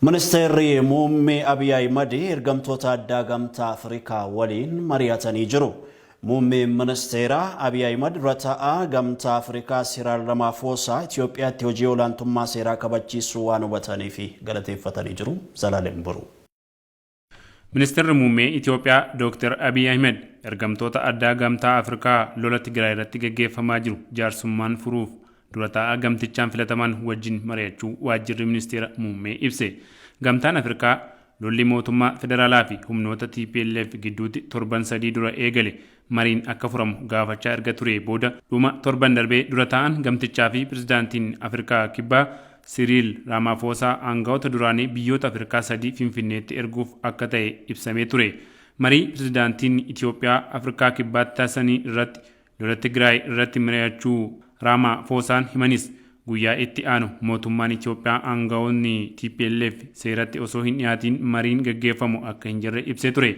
Ministeerri Muummee Abiy Ahimad ergamtoota addaa Gamtaa Afrikaa waliin mari'atanii jiru. Muummeen Ministeeraa Abiy Ahimad dura taa'aa Gamtaa Afrikaa Siraal Ramaafoosaa Itiyoophiyaatti hojii olaantummaa seeraa kabachiisuu waan hubataniif galateeffatanii jiru. Zalaalem Boruu. Ministirri Muummee Itoophiyaa Dooktar Abiy Ahmed ergamtoota addaa Gamtaa Afrikaa lola Tigraay irratti gaggeeffamaa jiru jaarsummaan furuuf dura taa'aa gamtichaan filataman wajjin mari'achuu waajjirri ministeera muummee ibse. Gamtaan Afrikaa lolli mootummaa federaalaa fi humnoota TPLF gidduutti torban sadii dura eegale mariin akka furamu gaafachaa erga turee booda dhuma torban darbee dura taa'aan gamtichaa fi pirezidaantiin Afirkaa Kibbaa Siriil Raamaafoosaa aanga'oota duraanii biyyoota Afirkaa sadii Finfinneetti erguuf akka ta'e ibsamee ture. Marii pirezidaantiin Itiyoophiyaa Afirkaa Kibbaatti taasisanii irratti lola Tigraay irratti mari'achuu Raamaafoosaan himanis, guyyaa itti aanu mootummaan Itiyoophiyaa aanga'oonni tplf seeratti osoo hin dhiyaatiin mariin gaggeeffamu akka hin jirre ibsee ture.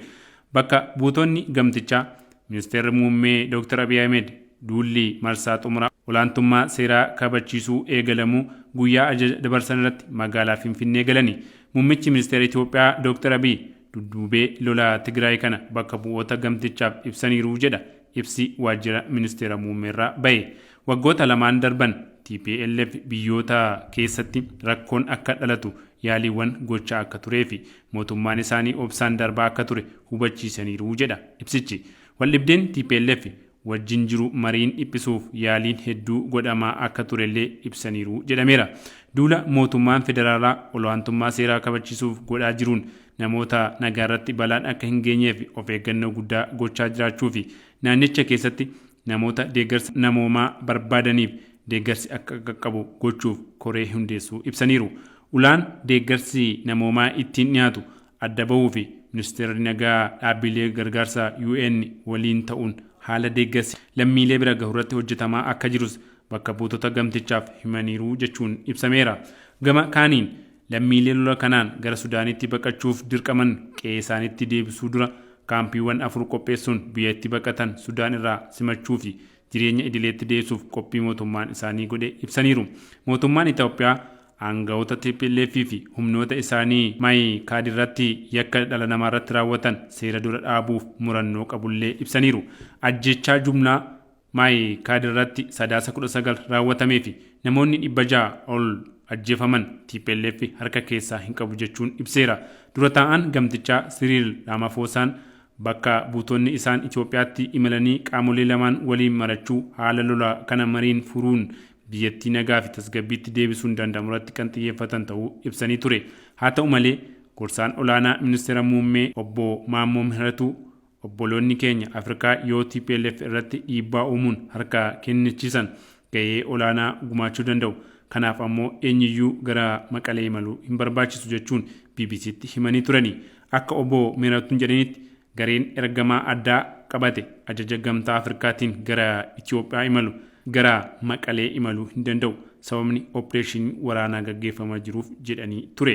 Bakka buutonni gamtichaa, Ministeerri Muummee Dooktar Abiy Ahimed duulli marsaa xumuraa olaantummaa seeraa kabachiisuu eegalamuu guyyaa ajaja dabarsanirratti magaalaa Finfinnee galani. Muummichi Ministeera Itoophiyaa Dooktar Abiy dudduubee lola Tigraay kana bakka bu'oota gamtichaaf ibsaniiru jedha ibsi waajjira Ministeera Muummeerraa bahe. Waggoota lamaan darban tplf biyyoota keessatti rakkoon akka dhalatu yaaliiwwan gochaa akka tureefi mootummaan isaanii obsaan darbaa akka ture hubachiisaniiru jedha ibsichi. Waldhibdeen tplf wajjin jiru mariin dhiphisuuf yaaliin hedduu godhamaa akka turellee ibsaniiru jedhameera. Duula mootummaan federaalaa olaantummaa seeraa kabachiisuuf godhaa jiruun namoota nagaarratti balaan akka hin geenyeef of eeggannoo guddaa gochaa jiraachuufi naannicha keessatti namoota deeggarsa namoomaa barbaadaniif deeggarsi akka qaqqabu gochuuf koree hundeessuu ibsaniiru. Ulaan deeggarsi namoomaa ittiin dhiyaatu adda bahuufi Ministeerri Nagaa dhaabbiilee gargaarsaa UN waliin ta'uun haala deeggarsi lammiilee bira gahurratti hojjetamaa akka jirus bakka buutota gamtichaaf himaniiru jechuun ibsameera. Gama kaaniin lammiilee lola kanaan gara Sudaanitti baqachuuf dirqaman qe'eesaaniitti deebisuu dura kaampiiwwan afur qopheessuun biyya itti baqatan Sudaan irraa simachuufi jireenya idileetti deebisuuf qophii mootummaan isaanii godhe ibsaniiru. Mootummaan Itoophiyaa aanga'oota tplf fi humnoota isaanii Mayi Kaadirratti yakka dhala namaarratti raawwatan seera dura dhaabuuf murannoo qabullee ibsaniiru. Ajjeechaa jumlaa Mayi Kaadirratti Sadaasa 19 raawwatamee fi namoonni 600 ol ajjeefaman tplf harka keessaa hin qabu jechuun ibseera. Dura taa'aan gamtichaa Siriil Raamaafoosaan Bakka buutonni isaan Itoophiyaatti imalanii qaamolee lamaan waliin marachuu, haala lolaa kana mariin furuun biyyattii nagaa fi tasgabbiitti deebisuun danda'amurratti kan xiyyeeffatan ta'uu ibsanii ture. Haa ta'u malee, gorsaan olaanaa Ministeera Muummee Obbo Maammoo Mihiratuu, obboloonni keenya Afrikaa yoo tplf irratti dhiibbaa uumuun harka kennichiisan, gahee olaanaa gumaachuu danda'u. Kanaaf ammoo eenyuyyuu gara Maqalee imaluu hin barbaachisu jechuun BBC'tti himanii turani. Akka Obbo Mihiratun jedhanitti gareen ergamaa addaa qabate ajaja Gamtaa Afrikaatiin gara Itoophiyaa imalu gara Maqalee imaluu hin danda'u. Sababni oppireeshinii waraanaa gaggeeffamaa jiruuf jedhanii ture.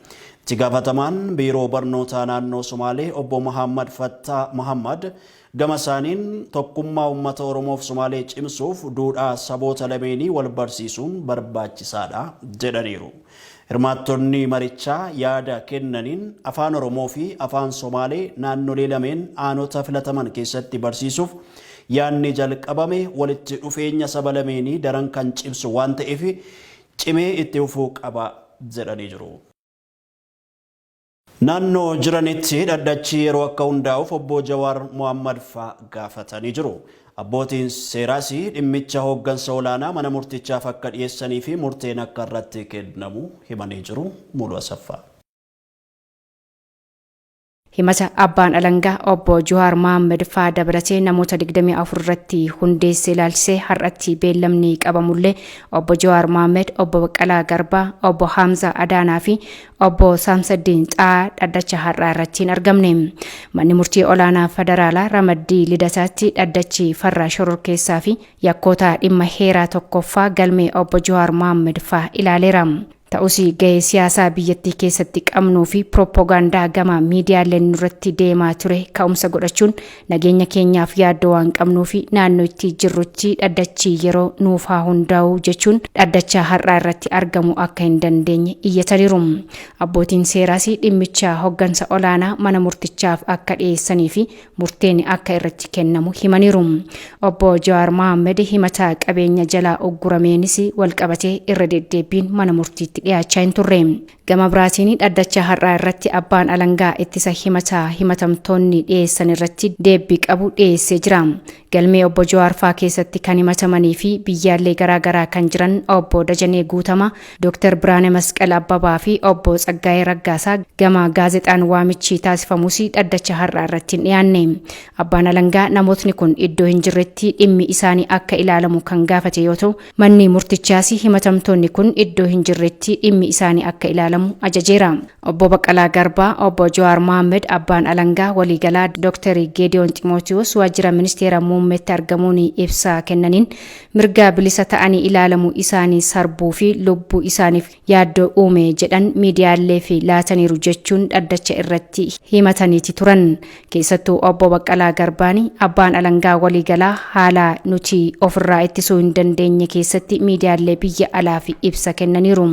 Itti gaafatamaan Biiroo Barnootaa Naannoo Somaalee Obbo Mahaammad Fattaa Mahaammad gama isaaniin tokkummaa uummata Oromoof Somaalee cimsuuf duudhaa saboota lameenii wal barsiisuun barbaachisaadha jedhaniiru. Hirmaattonni marichaa yaada kennaniin Afaan Oromoo fi Afaan Somaalee naannolee lameen aanota filataman keessatti barsiisuuf yaadni jalqabame walitti dhufeenya saba lameenii daran kan cimsu waan ta'eef cimee itti fufuu qaba jedhanii jiru. Naannoo jiranitti dhaddachi yeroo akka hundaa'uuf Obbo Jawaar Mohaammad faa gaafatanii jiru. Abbootiin seeraas dhimmicha hooggansa olaanaa mana murtichaaf akka dhiyeessanii fi murteen akka irratti kennamu himanii jiru. Mulu Asaffaa. Himata abbaan alangaa obbo Juhaar Mohaammed faa dabalatee namoota 24 irratti hundeesse ilaalchisee har'atti beellamni qabamullee obbo Juhaar Mohaammed, obbo Baqqalaa Garbaa, obbo Hamza Adaanaa fi obbo Saamsaddiin Xaa dhaddacha har'aa irratti hin argamne. Manni murtii olaanaa federaalaa ramaddii lidataatti dhaddachi farra shororkeessaa fi yakkoota dhimma heeraa tokkoffaa galmee obbo Juhaar Mohaammed faa ilaaleera. Ta'us gahee siyaasaa biyyattii keessatti qabnuu fi pirooppogaandaa gama miidiyaaleen nurratti deemaa ture ka'umsa godhachuun nageenya keenyaaf yaaddoo waan qabnuu fi naannoo itti jirrutti dhaddachi yeroo nuuf haa hundaa'u jechuun dhaddacha har'aa irratti argamu akka hin dandeenye iyyataniiru. Abbootiin seeraas dhimmicha hoggansa olaanaa mana murtichaaf akka dhiyeessanii fi murteen akka irratti kennamu himaniiru. Obbo Jawaar Mohaammed himata qabeenya jalaa uggurameenis walqabatee irra deddeebbiin mana murtiitti dhiyaachaa hin turre. Gama biraatiin dhaddacha har'aa irratti abbaan alangaa ittisa himata himatamtoonni dhiyeessan irratti deebbii qabu dhiyeessee jira. Galmee Obbo Jawaar faa keessatti kan himatamanii fi biyyaallee garaa garaa kan jiran Obbo Dajanee Guutamaa, Dr. Biraane Masqal Abbabaa fi Obbo Tsaggaayee Raggaasaa gama gaazexaan waamichi taasifamus dhaddacha har'aa irratti hin dhiyaanne. Abbaan Alangaa namootni kun iddoo hin jirretti dhimmi isaanii akka ilaalamu kan gaafate yoo ta'u, Manni murtichaas himatamtoonni kun iddoo hin jirretti dhimmi isaanii akka ilaalamu ajajeera. Obbo Baqqalaa Garbaa, Obbo Jawaar Mohaammed, Abbaan Alangaa Waliigalaa Doktar Geediyoon Ximootiwoos Waajjira Ministeera Muummeetti argamuun ibsa kennaniin, mirga bilisa ta'anii ilaalamuu isaanii sarbuu fi lubbuu isaaniif yaaddoo uume jedhan miidiyaaleef laataniiru jechuun dhaddacha irratti himataniiti turan. Keessattuu obbo Baqqalaa Garbaan abbaan alangaa waliigalaa haala nuti ofirraa ittisuu hin dandeenye keessatti miidiyaalee biyya alaaf ibsa kennaniiru.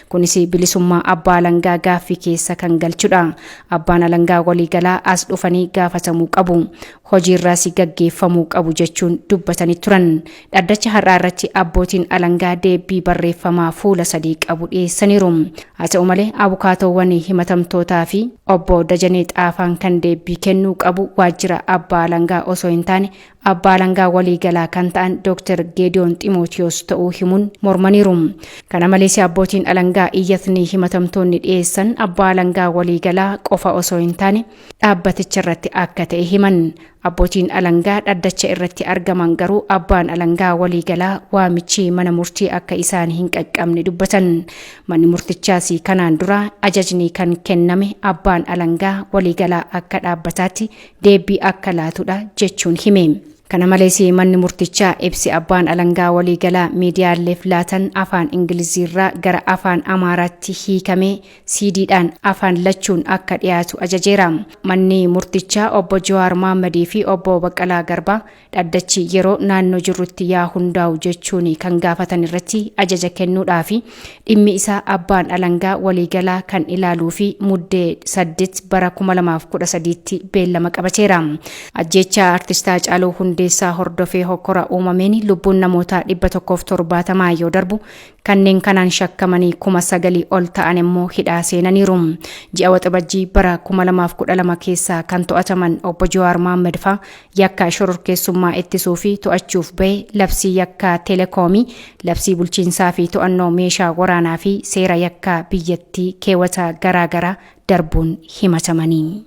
Kunis bilisummaa abbaa alangaa gaaffii keessa kan galchudha. Abbaan alangaa waliigalaa as dhufanii gaafatamuu qabu. hojiirraas gaggeeffamuu qabu jechuun dubbatanii turan. Dhaddacha har'aa irratti abbootiin alangaa deebbii barreeffamaa fuula sadii qabu dhiyeessaniiru. Haa ta'u malee abukaatoowwan himatamtootaa fi obbo Dajanee Xaafaan kan deebbii kennuu qabu waajjira abbaa alangaa osoo hin taane abbaa alangaa waliigalaa kan ta'an Dr. Geediyoon Ximootiyoos ta'uu himuun mormaniiru. Kana malees abbootiin alangaa iyyatni himatamtoonni dhiyeessan abbaa alangaa waliigalaa qofa osoo hin taane dhaabbaticha irratti akka ta'e himan. Abbootiin alangaa dhaddacha irratti argaman garuu abbaan alangaa waliigalaa waamichi mana murtii akka isaan hin qaqqabne dubbatan. Manni murtichaas kanaan dura ajajni kan kenname abbaan alangaa waliigalaa akka dhaabbataatti deebii akka laatudha jechuun hime. Kana malees manni murtichaa ibsi abbaan alangaa waliigalaa miidiyaaleef laatan afaan Ingiliziirraa gara afaan Amaaraatti hiikamee CD dhaan afaan lachuun akka dhiyaatu ajajeera. Manni murtichaa obbo Jawaar Mohammed fi obbo Baqqalaa Garbaa dhaddachi yeroo naannoo jirrutti yaa hundaa'u jechuun kan gaafatan irratti ajaja kennuudhaa fi dhimmi isaa abbaan alangaa waliigalaa kan ilaaluu fi muddee 8 bara 2013tti beellama qabateera. Ajjeechaa Artist Haacaaluu Hundeessaa hordofee hokkora uumameen lubbuun namootaa 170 yoo darbu Kanneen kanaan shakkamanii kuma sagalii ol ta'an immoo hidhaa seenaniiru. Ji'a Waxabajjii bara 2012 keessa kan to'ataman obbo Jawaar Mohaammed faa yakka shororkeessummaa ittisuu fi to'achuuf bahe labsii yakkaa telekoomii, labsii bulchiinsaa fi to'annoo meeshaa waraanaa fi seera yakkaa biyyattii keewwata garaa garaa darbuun himatamanii.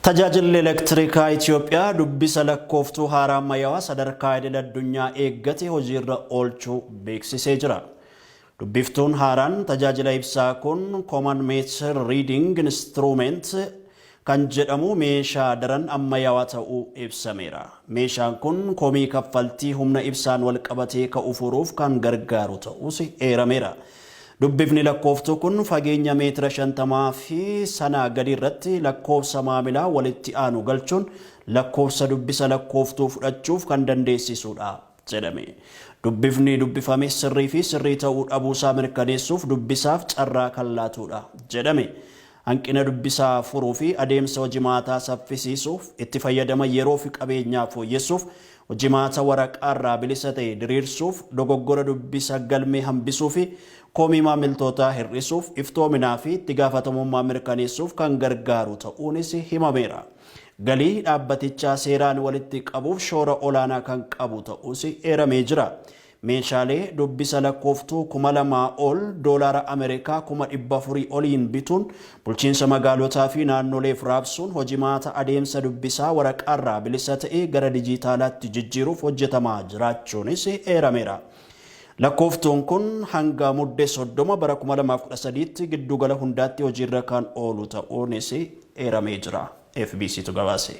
Tajaajilli Elektirikaa Itiyoophiyaa dubbisa lakkooftuu haaraa ammayyaawaa sadarkaa idil addunyaa eeggate hojiirra oolchuu beeksisee jira. Dubbiftuun haaraan tajaajila ibsaa kun Common Meter Reading Instrument kan jedhamu meeshaa daran ammayyaawaa ta'uu ibsameera. Meeshaan kun komii kaffaltii humna ibsaan walqabatee ka'u furuuf kan gargaaru ta'uus eerameera. Dubbifni lakkooftuu kun fageenya meetira 50 fi sanaa gadii irratti lakkoofsa maamilaa walitti aanu galchuun lakkoofsa dubbisa lakkooftuu fudhachuuf kan dandeessisuudha jedhame. Dubbifni dubbifame sirrii fi sirrii ta'uu dhabuusaa mirkaneessuuf dubbisaaf carraa kan laatuudha jedhame. Hanqina dubbisaa furuufi adeemsa hojimaataa saffisiisuuf, itti fayyadama yeroofi qabeenyaa fooyyessuuf, hojimaata waraqaarraa bilisa ta'e diriirsuuf, dogoggora dubbisa galmee hambisuufi komii maamiltootaa hir'isuuf, iftoominaafi itti gaafatamummaa mirkaneessuuf kan gargaaru ta'uunis himameera. Galii dhaabbatichaa seeraan walitti qabuuf shoora olaanaa kan qabu ta'uus eeramee jira. Meeshaalee dubbisa lakkooftuu kuma lamaa ol doolaara Ameerikaa kuma dhibba afurii oliin bituun bulchiinsa magaalotaa fi naannoleef raabsuun hojimaata adeemsa dubbisaa waraqaarraa bilisa ta'e gara dijiitaalaatti jijjiiruuf hojjetamaa jiraachuunis eerameera. Lakkooftuun kun hanga Mudde soddoma bara kuma lamaa fi kudha sadiitti gidduugala hundaatti hojiirra kan oolu ta'uunis eeramee jira. FBCtu gabaase.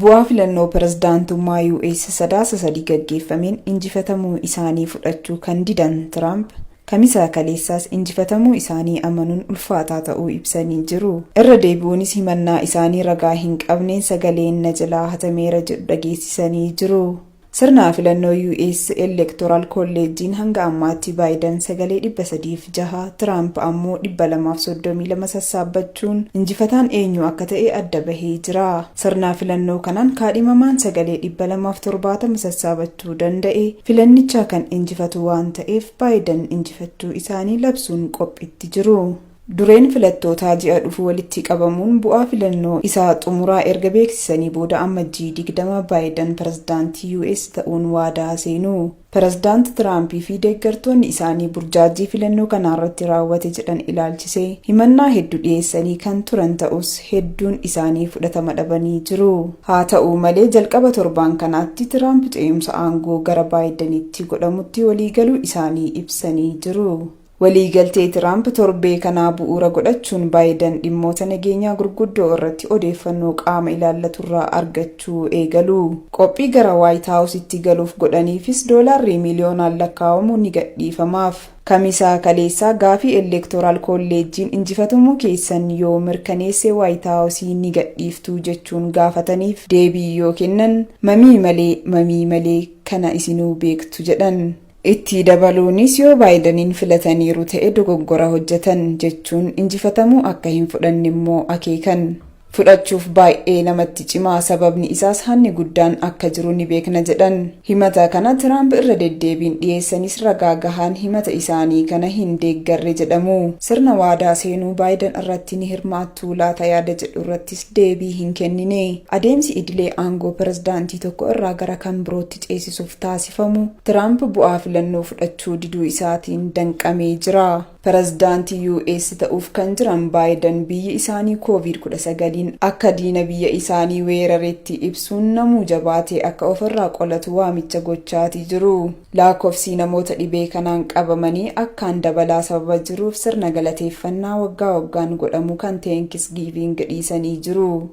Bu'aa filannoo pirezidaantummaa US Sadaasa 3 gaggeeffameen injifatamuu isaanii fudhachuu kan didan Tiraamp, Kamisa kaleessaas injifatamuu isaanii amanuun ulfaataa ta'uu ibsanii jiru. Irra deebi'uunis himannaa isaanii ragaa hin qabneen sagaleen na jalaa hatameera jedhu dhageessisanii jiru. Sirna filannoo US Elektoraal Kolleejjiin hanga ammaatti Baayidan sagalee 306, Tiraamp ammoo 232 sassaabbachuun injifataan eenyu akka ta'e adda bahee jira. Sirnaa filannoo kanaan kaadhimamaan sagalee 270 sassaabachuu danda'e filannichaa kan injifatu waan ta'eef Baayidan injifachuu isaanii labsuun qophiitti jiru. Dureen filattootaa ji'a dhufu walitti qabamuun bu'aa filannoo isa xumuraa erga beeksisanii booda Ammajjii 20 Baayidan pirezidaantii US ta'uun waadaa seenu. Pirezidaant Tiraampii fi deeggartoonni isaanii burjaajjii filannoo kanaarratti raawwate jedhan ilaalchisee himannaa heddu dhiyeessanii kan turan ta'us hedduun isaanii fudhatama dhabanii jiru. Haata'u malee jalqaba torbaan kanaatti Tiraamp ce'umsa aangoo gara Baayidanitti godhamutti waliigaluu isaanii ibsanii jiru. Waliigaltee Tiraamp torbee kanaa bu'uura godhachuun Baayidan dhimmoota nageenyaa gurguddoo irratti odeeffannoo qaama ilaallaturraa argachuu eegalu. Qophii gara Waayit Haawusitti galuuf godhaniifis doolaarri miliyoonaan lakkaa'amu ni gadhiifamaaf. Kamisa kaleessaa gaafii Elektoraal Kolleejjiin injifatamuu keessan yoo mirkaneesse Waayit Haawusii ni gadhiiftuu jechuun gaafataniif deebii yoo kennan, mamii malee, mamii malee, kana isinuu beektu jedhan. Itti dabaluunis yoo Baayidaniin filataniiru ta'e dogoggora hojjetan jechuun injifatamuu akka hin fudhanne immoo akeekan. Fudhachuuf baay'ee namatti cima, sababni isaas hanni guddaan akka jiru ni beekna jedhan. Himata kana Tiraamp irra deddeebiin dhiyeessanis ragaa gahaan himata isaanii kana hin deeggarre jedhamu. Sirna waadaa seenuu Baayidan irratti ni hirmaattuu laata yaada jedhu irrattis deebii hin kennine. Adeemsi idilee aangoo pirezidaantii tokko irraa gara kan birootti ceesisuuf taasifamu Tiraamp bu'aa filannoo fudhachuu diduu isaatiin danqamee jira. Pirezidaantii US ta'uuf kan jiran Baayidan biyyi isaanii Kooviid 19n akka diina biyya isaanii weeraretti ibsuun namuu jabaatee akka ofirraa qolatu waamicha gochaatii jiru. Laakkofsii namoota dhibee kanaan qabamanii akkaan dabalaa sababa jiruuf sirna galateeffannaa waggaa waggaan godhamu kan Teenkisgiiviing dhiisanii jiru.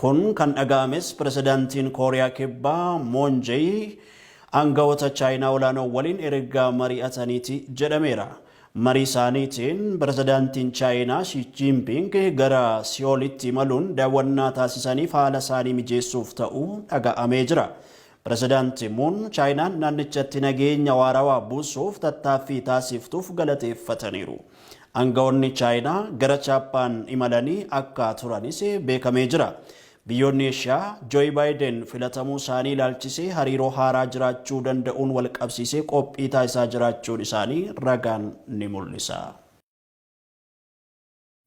Kun kan dhaga'ames Pirezidaantiin Kooriyaa Kibbaa Moon Jay aanga'oota Chaayinaa olaanoo waliin erga mari'ataniiti jedhameera. Marii isaaniitiin Pirezidaantiin Chaayinaa Shi Jiinpiing gara Si'oolitti imaluun daawwannaa taasisaniif haala isaanii mijeessuuf ta'uu dhaga'amee jira. Pirezidaanti Muun Chaayinaan naannichatti nageenya waarawaa buusuuf tattaaffii taasiiftuuf galateeffataniiru. Aanga'oonni Chaayinaa gara Chaappaan imalanii akka turanis beekamee jira. Biyyoonni Eeshiyaa Jooyi Baayiden filatamuu isaanii ilaalchisee hariiroo haaraa jiraachuu danda'uun walqabsiisee qophii taasisaa jiraachuun isaanii ragaan ni mul'isa.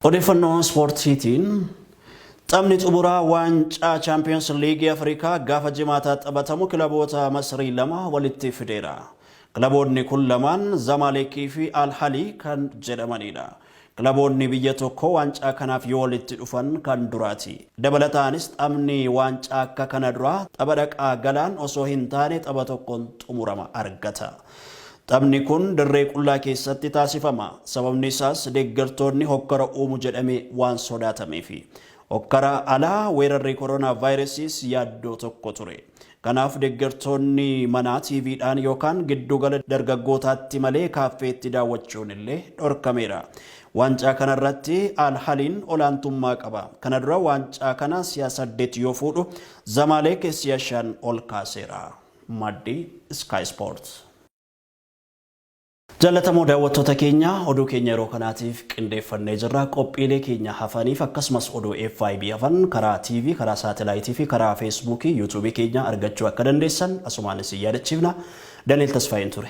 Odeeffannoo Ispoortiitiin Taphni xumuraa waancaa Chaampiyoons Liigii Afrikaa gaafa jimaataa taphatamu kilaboota Masrii lama walitti fideera. Kilaboonni kun lamaan Zamaaleekii fi Alhalii kan jedhamanidha. Kilaboonni biyya tokkoo waancaa kanaaf yoo walitti dhufan kan duraati. Dabalataanis taphni waancaa akka kana duraa tapha dhaqaa galaan osoo hin taane tapha tokkoon xumurama argata. Taphni kun dirree qullaa keessatti taasifama. Sababni isaas deeggartoonni hokkara uumu jedhamee waan sodaatameefi. Hokkara ala weerarri koronaavaayirasiis yaaddoo tokko ture. Kanaaf deeggartoonni manaa TVdhaan yookaan giddugala dargaggootaatti malee kaaffeetti daawwachuun illee dhorkameera. Waancaa kanarratti Al Haliin olaantummaa qaba. Kana dura waancaa kana si'a saddet yoo fuudhu, Zamaaleek si'a shan ol kaaseera. Maddi Sky Sports. Jaallatamoo daawwattoota keenya oduu keenya yeroo kanaatiif qindeeffannee jirra. Qophiilee keenya hafaniif akkasumas oduu FIB hafan karaa TV, karaa saatalaayitii fi karaa feesbuukii, yuutuubii keenya argachuu akka dandeessan asumaan isin yaadachiifna. Daniel Tasfaayeen ture.